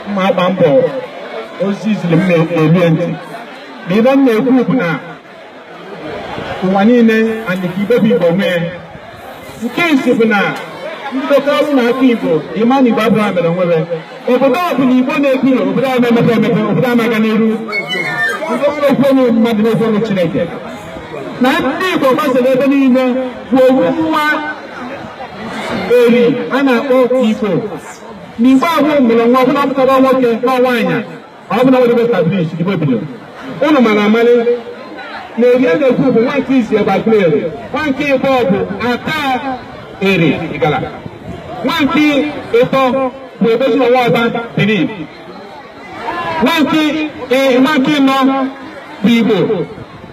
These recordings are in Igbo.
mma agba mbọ ozi iziri m na-elu ntị na ihe m na-ekwu bụ na ụwa niile anyị ka ibe bụ igbo nwee nke isi bụ na ndị bekọrọ na aka igbo ịma na igbo abụọ mere nwere obodo ọ bụla Igbo na-ekwu na obodo a na-emepe emepe obodo a na-aga n'iru ekwenye mmadụ n'ekwenye Chineke na ndị Igbo gbasara ebe niile bụ ofu nwa eri a na-akpọ Igbo na Igbo ahụ mụrụ nwa ọbụla pụtara nwoke na nwaanyị ọ bụ na ọ dịbe establish igbo bidoro ụnụ mana amalị na eri a na-ekwu bụ nwa nke isi bụ agụleri nwa nke ịbọ bụ ata eri igala nwa nke ịtọ bụ edozie nwe ọba benin nwa nke ị- nwa nke ịnọ bụ igbo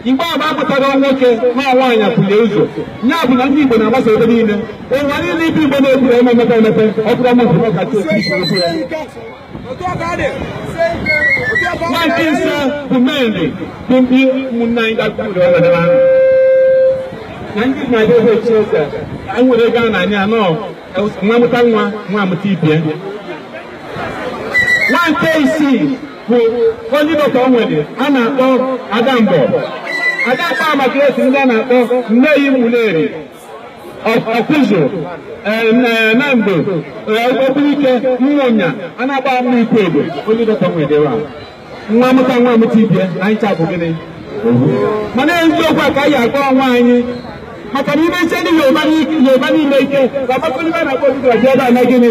igbo agba apụtara nwoke na nwaanyị apụlie ụzọ ya bụ na ndị igbo na-agbasa ebe niile ụwa niile ibe igbo na-eburu emepe emepe ọ bụrụ ọmụ bụ ọkacha obi Nwa nke ise bụ mmadụ bụ ndị ụmụnne anyị gakwuru ọbara ahụ. Na ndị na-abịa ebe e chi eze, anyị nwere ego a na-anya anọ nwa amụta nwa nwa amụta ibie. Nwa nke isii bụ only daughter o nwere a na-akpọ Adamgbo. Adamgbo mụtazi ndị a na-akpọ Nneyi Ụmụleri. ọkụzụ nando ogbunike ụmụnya a na-agba mma ikwu egbe only daughter nwedere a nwa amụta nwa amụta ibie na anyị ncha bụ gịnị mana eziokwu a ka anyị agwa onwe anyị maka na imeche ndị yoruba niile ike ka ọgbakọ ndị a na-akpọ obibi ọjọọ ebe a na gịnị